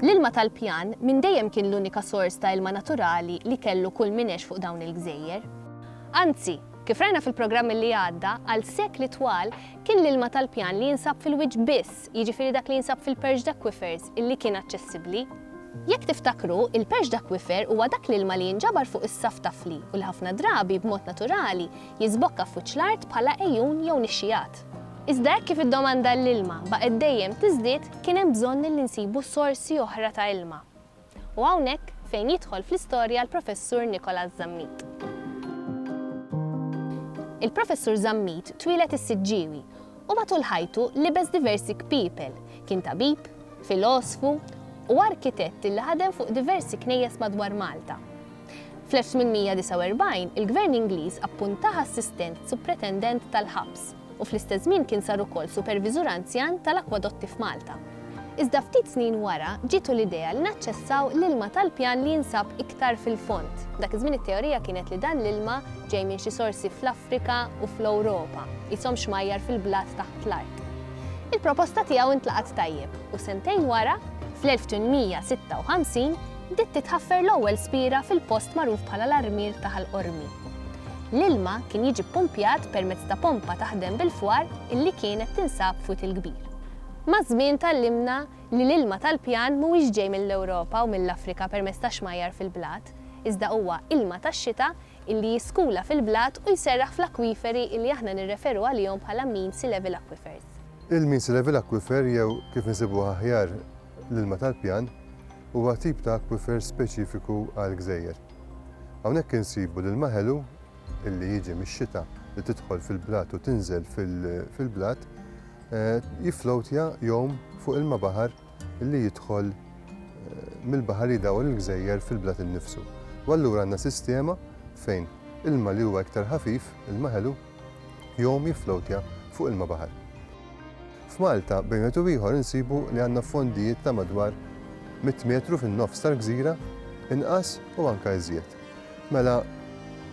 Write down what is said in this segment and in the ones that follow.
L-ilma tal-pjan minn dejjem kien l-unika sors ta' ilma naturali li kellu kull min għex fuq dawn il-gżejjer. Anzi, kif rajna fil-programm li għadda, għal sekli twal kien l-ilma tal-pjan li jinsab fil-wiċċ biss, jiġifieri dak li jinsab fil-perched aquifers, li kien aċċessibbli. Jekk tiftakru, il-perched aquifer huwa dak l-ilma li jinġabar fuq is-saff ta' fli u li ħafna drabi, b'mod naturali, jiżbokka f'wiċċ l-art bħala għejun jew nixxigħat. Iżda hekk kif id-domanda għall-ilma baqgħet dejjem tiżdied kien hemm bżonn li nsibu sorsi oħra ta' ilma. U hawnhekk fejn jidħol fl-istorja l-Professur Nicholas Zammit. Il-Professur Zammit twieled is-Siġġiewi u matul ħajtu libes diversi kpiepel, kien tabib, filosfu u arkitett li ħadem fuq diversi knejjes madwar Malta. Fl-1849 il-Gvern Ingliż appuntah assistent supretendent tal-ħabs u fl-istess żmien kien sar ukoll superviżur anzjan tal-akwadotti f'Malta. Iżda ftit snin wara ġietu l-idea li naċċessaw l-ilma tal-pjan li jinsab iktar fil-fond. Dak iż-żmien it-teorija kienet li dan l-ilma ġej minn xi sorsi fl-Afrika u fl-Ewropa, qishom xmajjar fil-blat taħt l-art. Il-proposta tiegħu ntlaqgħet tajjeb u sentejn wara, fl-1856, bdiet titħaffer l-ewwel spiera fil-post magħruf bħala l-Armier ta' Ħal Qormi. L-ilma kien jiġi ppumpjat permezz ta' pompa taħdem bil-fwar illi kienet tinsab f'Wied il-Kbir. Maż-żmien tgħallimna li l-ilma tal-pjan mhuwiex ġej mill-Ewropa u mill-Afrika permezz ta' xmajjar fil-blat, iżda huwa ilma tax-xita illi jiskula fil-blat u jserraħ fl-akwiferi illi aħna nirreferu għalihom bħala Mean Sea Level Aquifers. Il-Mean Sea Level Aquifer jew kif insibuh aħjar L-ilma tal-pjan huwa tip ta' akwifer speċifiku għall-gżejjer. Hawnhekk insibu l-ilma ħelu li jiġi mix-xita li tidħol fil-blat u tinżel fil-blat jifflowtja jgħum fuq ilma baħar li jidħol mill-baħar jidawwar il-gżejjer fil-blat innifsu. U allura għandna sistema fejn ilma li huwa iktar ħafif, ilma ħelu, Jom jifflowtja fuq ilma baħar. F'Malta, bejn wieħed u ieħor insibu li għandna fondijiet ta' madwar mitt metru fin-nofs tal-gżira, inqas u anke iżjed. Mela,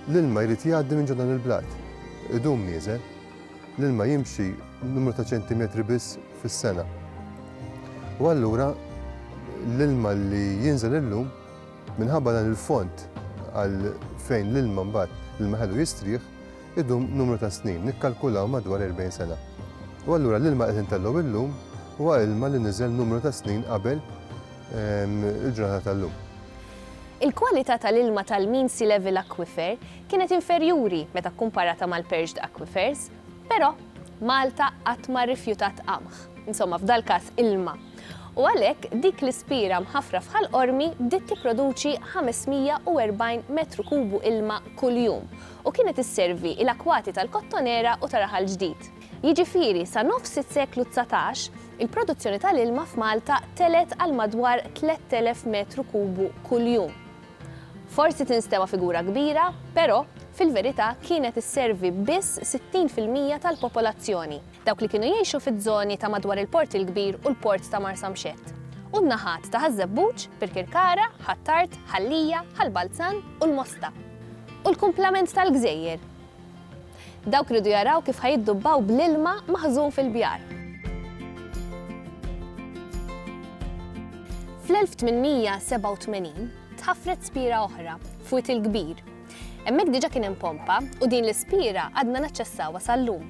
l-ilma jrid jgħaddi minn ġo dan il-blat. Idum nieżel. L-ilma jimxi numru ta' ċentimetri biss fis-sena. U allura l-ilma li jinżel illum minħabba dan il-fond għal fejn l-ilma mbagħad l-ilma ħelu jistrieħ, idum numru ta' snin, nikkalkulaw madwar 40 sena. U allura l-ilma qed intellgħu illum huwa ilma li niżel numru ta' snin qabel il-ġurnata tal-lum. Il-kwalità tal-ilma tal-Mean Sea Level Aquifer kienet inferjuri meta kkumparata mal-Perched Aquifers, però Malta qatt ma rrifjutat qamħ, insomma f'dal-każ ilma. U għalhekk dik l-ispira mħaffra f'Ħal Qormi bdiet tipproduċi 540 metru kubu ilma kuljum u kienet isservi il-akwati tal-Kottonera u ta' Raħal Ġdid. Jiġifieri sa nofs is-seklu dsatax, il-produzzjoni tal-ilma f'Malta telgħet għal madwar 3,000 metru kubu kuljum. Forsi tinstema' figura kbira, però, fil-verità kienet isservi biss 60 fil-mija tal-popolazzjoni. dawk li kienu jgħixu fiż-żoni ta' madwar il-Port il-Kbir u l-Port ta' Marsamxett, u n-naħat ta' Ħaż-Żebbuġ, Birkirkara, Ħ'Attard, Ħal-Lija, Ħal-Balzan u l-Mosta, u l-kumplament tal-gżejjer. Dawk riedu jaraw kif ħa jiddubbaw bl-ilma maħżun fil-bjar. Fl-1887 tħaffret spiera oħra, f'Wied il-Kbir. Hemmhekk diġà kien hemm pompa u din l-ispiera għadna naċċessawha sal-lum.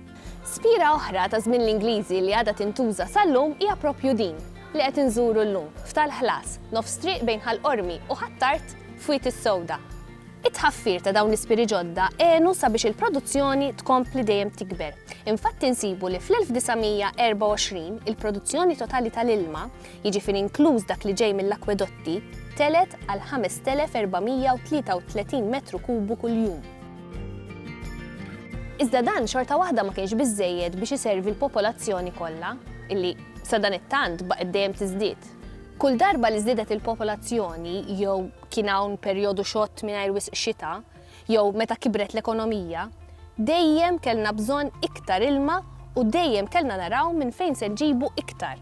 Spira oħra ta' żmien l-Ingliżi li għadha tintuża sal-lum hija proprju din li qed inżuru llum f'Tal Ħlas, nofs triq bejn Ħal Qormi u Ħ'Attard f'Wied is-Sewda. It-tħaffir ta' dawn l-ispiri ġodda għenu sabiex il-produzzjoni tkompli dejjem tikber. Infatti nsibu li fl-1924 il-produzzjoni totali tal-ilma, jiġifieri inkluż dak li ġej mill-akwedotti, telgħet għal 5,433 metru kubu kuljum. Iżda dan xorta waħda ma kienx biżżejjed biex iservi l-popolazzjoni kollha, illi sadanittant baqgħet dejjem tiżdied. Kull darba li żdiedet il-popolazzjoni jew kien hawn perjodu xott mingħajr wisq xita, jew meta kibret l-ekonomija, dejjem kellna bżonn iktar ilma u dejjem kellna naraw minn fejn se nġibu iktar.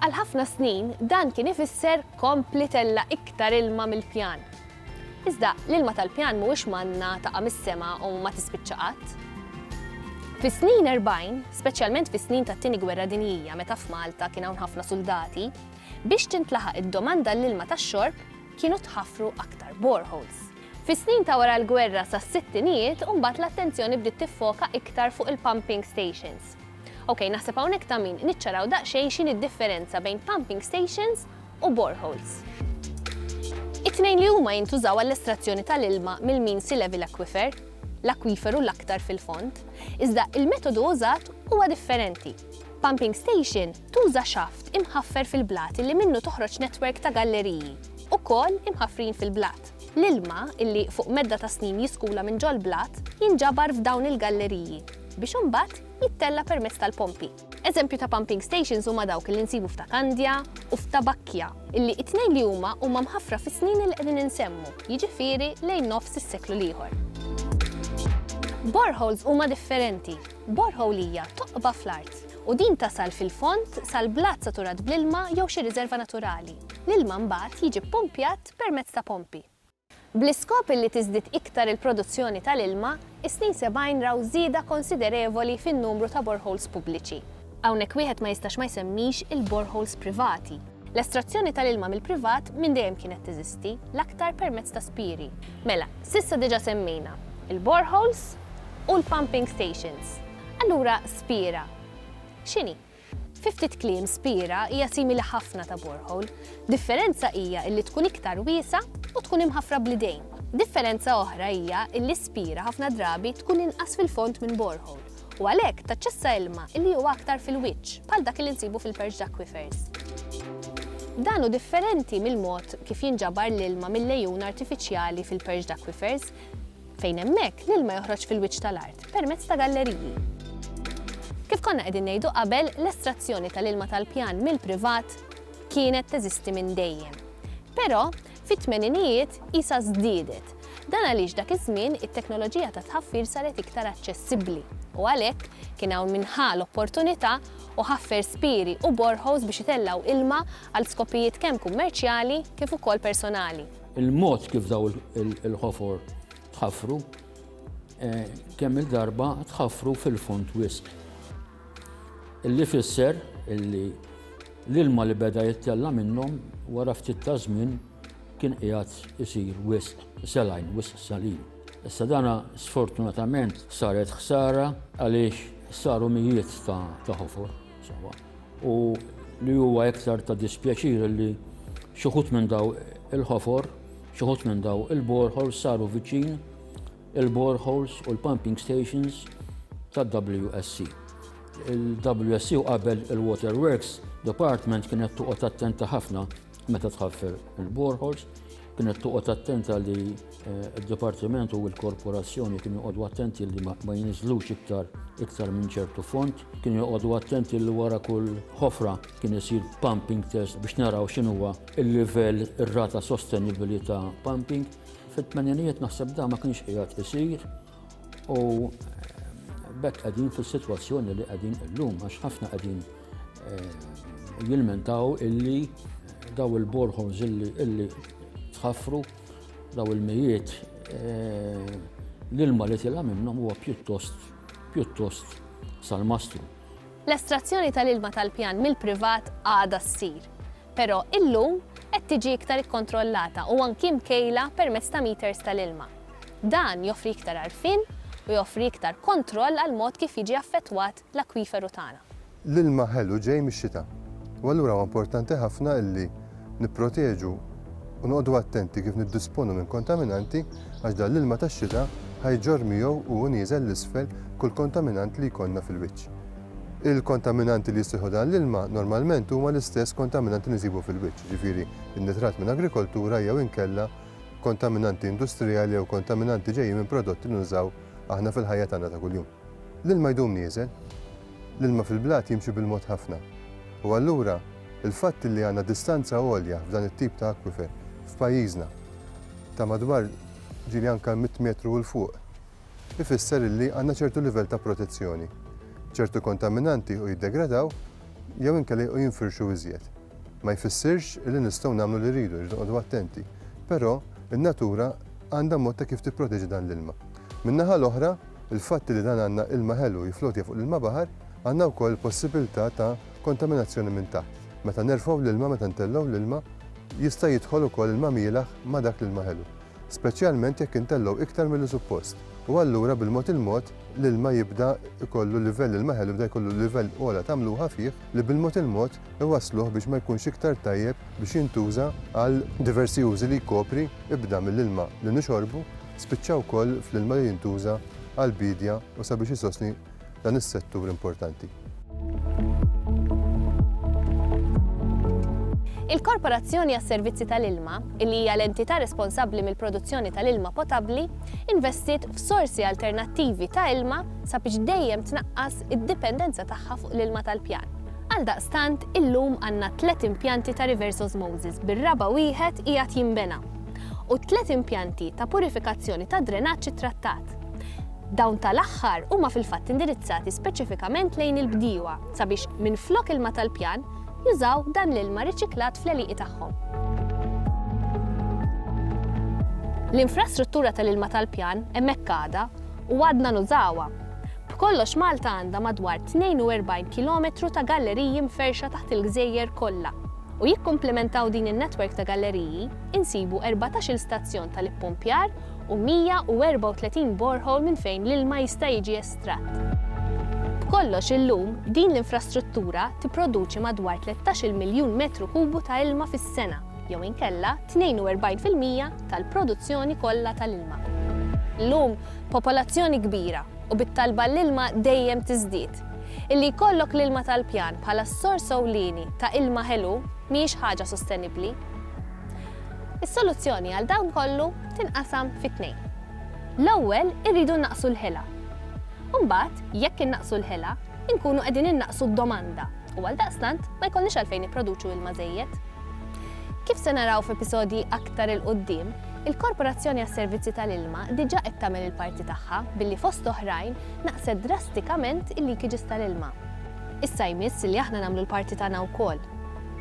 Għal ħafna snin dan kien ifisser kompli tella' iktar ilma mill-pjan, Iżda, l-ilma tal-pjan mhuwiex manna taqa' mis-sema u ma tispiċċa qatt. Fis-snin erbgħin, speċjalment fis-snin tat-Tieni Gwerra Dinjija meta f'Malta kien hawn ħafna suldati, biex tintlaħaq id-domanda għall-ilma tax-xorb kienu tħaffru aktar boreholes. Fis-snin ta' wara l-gwerra sas-sittinijiet u mbagħad l-attenzjoni bdiet tiffoka iktar fuq il-pumping stations. Ok, naħseb hawnhekk ta' min niċċaraw daqsxejn x'inhi d-differenza bejn pumping stations u boreholes. It-tnejn li huma jintużaw għall-estrazzjoni tal-ilma mill-mean sea level aquifer, l-akwiferu l-aktar fil-fond, iżda il-metodu użat huwa differenti. Pumping station tuża xaft imħaffer fil-blat illi minnu toħroġ netwerk ta' galleriji, ukoll imħaffrin fil-blat. L-ilma, illi fuq medda ta' snin jiskula minn ġol-blat, jinġabar f'dawn il-galleriji, biex imbagħad jittella' permezz tal-pompi. Eżempju ta' pumping stations huma dawk li nsibu f'Ta' Kandja u f'Ta' Bakkja, illi t-tnejn li huma huma mħaffra fis-snin li qegħdin insemmu, jiġifieri lejn nofs is-seklu l-ieħor. Boreholes huma differenti. Borehole hija toqba fl-art, u din tasal fil-fond sal-blat saturat bl-ilma jew xi riżerva naturali. L-ilma mbagħad jiġi ppumpjat permezz ta' pompi. Bl-iskop illi tiżdied iktar il-produzzjoni tal-ilma, is-snin sebgħin raw żieda konsiderevoli fin-numru ta' boreholes pubbliċi. Hawnhekk wieħed ma jistax ma jsemmix il-boreholes privati. L-estrazzjoni tal-ilma mill-privat minn dejjem kienet teżisti, l-aktar permezz ta' spieri. Mela, s'issa diġà semmejna l-boreholes u l-pumping stations. Allura spiera x'inhi? Fi ftit kliem Spira hija simili ħafna ta' borehole. Differenza hija illi tkun iktar wiesgħa u tkun imħaffra bl-idejn. Differenza oħra hija illi Spira ħafna drabi tkun inqas fil-fond minn borehole u għalhekk taċċessa ilma illi huwa aktar fil-wiċċ bħal dak illi nsibu fil-perched aquifers. Dan hu differenti mill-mod kif jinġabar l-ilma mill-għejun artifiċjali fil-perched aquifers. fejn hemmhekk l-ilma joħroġ fil-wiċċ tal-art permezz ta' galleriji. Kif konna qegħdin ngħidu qabel, l-estrazzjoni tal-ilma tal-pjan mill-privat kienet teżisti minn dejjem. Però, fit-tmeninijiet isa żdiedet. Dan għaliex dak iż-żmien it-teknoloġija ta' tħaffir saret iktar aċċessibbli u għalhekk kien hawn minħa l-opportunità u ħaffer spiri u borħos biex itellgħu ilma għal skopijiet kemm kummerċjali kif ukoll personali. Il-mod kif daw il-ħofor tħaffru, eh, kemm il-darba tħaffru fil-fond wisq. Illi fisser illi l-ilma li beda jittella minnhom wara ftit ta' żmien kien qiegħed isir wisq selajn, wisq salin. Issa dana sfortunatament saret ħsara għaliex saru mijiet ta' ħofor. u li huwa iktar ta' dispjaċir li xi wħud minn daw il-ħofor, xi wħud minn daw il-boreholes saru viċin il-boreholes u l-pumping stations tad-WSC. Il-WSC u qabel il-Waterworks Department kienet toqgħod attenta ħafna Meta tħaffer il-borehors, kienet toqgħod attenta li eh, d-Dipartiment u l-Korporazzjoni kienu joqogħdu attenti li ma jinizlux iktar iktar minn ċertu font, kienu joqogħdu attenti li wara kull ħofra kien isir pumping test biex naraw x'inhuwa il-livell ir-rata sostenibbli ta' pumping. Fit-tmeninijiet naħseb da ma kienx qiegħed isir, U bekk qegħdin fis-sitwazzjoni li qegħdin illum għax ħafna qegħdin eh, jilmentaw illi daw il-borħons illi tħaffru daw il-mijiet eh, l-ilma li tilha minnhom huwa pjuttost pjuttost sal-mastru. L-estrazzjoni tal-ilma tal-pjan mill-privat għada ssir, però illum qed tiġi iktar ikkontrollata u anki mkejla permezz ta' meters tal-ilma. Dan joffri iktar għarfien u joffri iktar kontroll għall-mod kif jiġi affettwat l-akwiferu tagħna. L-ilma ħelu ġej mix-xita, u allura huwa importanti ħafna li nipproteġu u noqogħdu attenti kif niddisponu minn kontaminanti għax dan l-ilma tax-xita ħa jġorr miegħu u hu nieżel 'l isfel kull kontaminant li jkollna fil-wiċċ. Il-kontaminanti li jissieħbu dan l-ilma normalment huma l-istess kontaminanti li nsibu fil-wiċċ, jiġifieri n-nitrat minn agrikoltura jew inkella kontaminanti industrijali jew kontaminanti ġejjin minn prodotti li nużaw aħna fil-ħajja tagħna ta' kuljum. L-ilma jdum nieżel. L-ilma fil-blat jimxi bil-mod ħafna. U allura, il-fatt li għandna distanza għolja f'dan it-tip ta' akwifer f'pajjiżna ta' madwar ġieli anke mitt metru 'l fuq, ifisser illi għandna ċertu livell ta' protezzjoni. Ċertu kontaminanti jiequ jiddegradaw jew inkella jiequ jinfirxu iżjed. Ma jfissirx illi nistgħu nagħmlu li rridu, irridu noqogħdu attenti, però n-natura għandha mod ta' kif tipproteġi dan l-ilma. Min-naħa l-oħra, il-fatt illi dan għandna ilma ħelu jiflotja fuq l-ilma baħar, għandna wkoll il-possibilità ta' kontaminazzjoni minn taħt. Meta nerfgħu l-ilma, meta ntellgħu l-ilma, jista' jidħol ukoll ilma mielaħ ma' dak l-ilma ħelu. speċjalment jekk intellgħu iktar milli suppost, u allura bil-mod il-mod l-ilma jibda jkollu livell, l-ilma ħelu jibda jkollu livell ogħla ta' mluħa fih li bil-mod il-mod iwassluh biex ma jkunx iktar tajjeb biex jintuża għal diversi użi li jkopri, ibda mill-ilma li nixorbu, spiċċa wkoll fl-ilma li jintuża għall-biedja u sabiex isostni dan is-settur importanti. Il-Korporazzjoni għas-Servizzi tal-Ilma, li hija l-entità responsabbli mill-produzzjoni tal-ilma potabbli, investiet f'sorsi alternattivi ta' ilma sabiex dejjem tnaqqas id-dipendenza tagħha fuq l-ilma tal-pjan. Għaldaqstant, illum għandna tliet impjanti ta' reverse osmosis bir-raba' wieħed qiegħed jinbena u tliet impjanti ta' purifikazzjoni tad-drenaġġ ittrattat. tal-prodott. Dawn tal-aħħar huma fil-fatt indirizzati speċifikament lejn il-bdiewa sabiex minflok ilma tal-pjan, jużaw dan l-ilma riċiklat fl-għelieqi tagħhom. L-infrastruttura tal-ilma tal-pjan hemmhekk għadha u għadna nużawha. B'kollox Malta għandha madwar 42 kilometru ta' galleriji mferxa taħt il-gżejjer kollha u jikkumplementaw din in-netwerk ta' galleriji insibu 14-il stazzjon tal-ippumpjar u 134 borehole minn fejn l-ilma jista' jiġi estratt. B'kollox illum, din l-infrastruttura tipproduċi madwar 13-il miljun metru kubu ta' ilma fis-sena, jew inkella 42 fil-mija tal-produzzjoni kollha tal-ilma. Illum, popolazzjoni kbira, u bit-talba għall-ilma dejjem tiżdied, illi jkollok l-ilma tal-pjan bħala s-sors ewlieni ta' ilma ħelu mhijiex ħaġa sostenibbli. Is-soluzzjoni għal dan kollu tinqasam fi tnejn. L-ewwel irridu nnaqqsu l-ħila. Imbagħad, jekk innaqqsu l-ħila, inkunu qegħdin innaqqsu d-domanda u għaldaqstant ma jkollniex għalfejn nipproduċu ilma żejjed. Kif se naraw f'episodji aktar 'il quddiem, il-Korporazzjoni għas-Servizzi tal-Ilma diġà qed tagħmel il-parti tagħha billi fost oħrajn naqset drastikament il-leakages tal-ilma. Issa jmiss li aħna nagħmlu l-parti tagħna wkoll.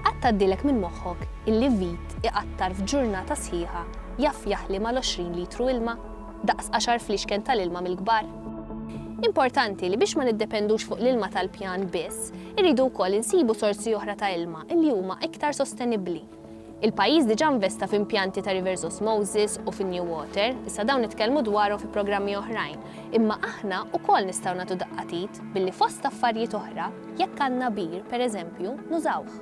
Qatt tgħaddilek minn moħħok illi vit iqattar f'ġurnata sħiħa jaf jaħli mal-għoxrin litru ilma, daqs għaxar fliexken tal-ilma mill-kbar? Importanti li biex ma niddependux fuq l-ilma tal-pjan biss, irridu wkoll insibu sorsi oħra ta' ilma illi huma iktar sostenibbli. Il-pajjiż diġà investa f'impjanti ta' reverse osmosis u fin-new water, issa dawn nitkellmu dwarhom fi programmi oħrajn, imma aħna wkoll nistgħu nagħtu daqqa t'id billi fost affarijiet oħra, Jekk għandna bir, per eżempju, nużawh.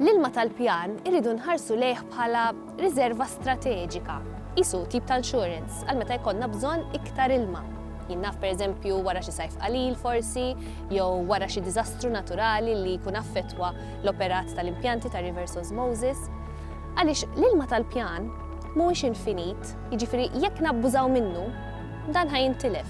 L-ilma tal-pjan irridu nħarsu lejh bħala riżerva strateġika, qisu tip ta' insurance għal meta jkollna bżonn iktar ilma. Jien naf per eżempju wara xi sajf qalil forsi, jew wara xi diżastru naturali li jkun affettwa l-operat tal-impjanti ta' reverse osmosis. Għaliex l-ilma tal-pjan mhuwiex infinit, jiġifieri jekk nabbużaw minnu, dan ħa jintilef.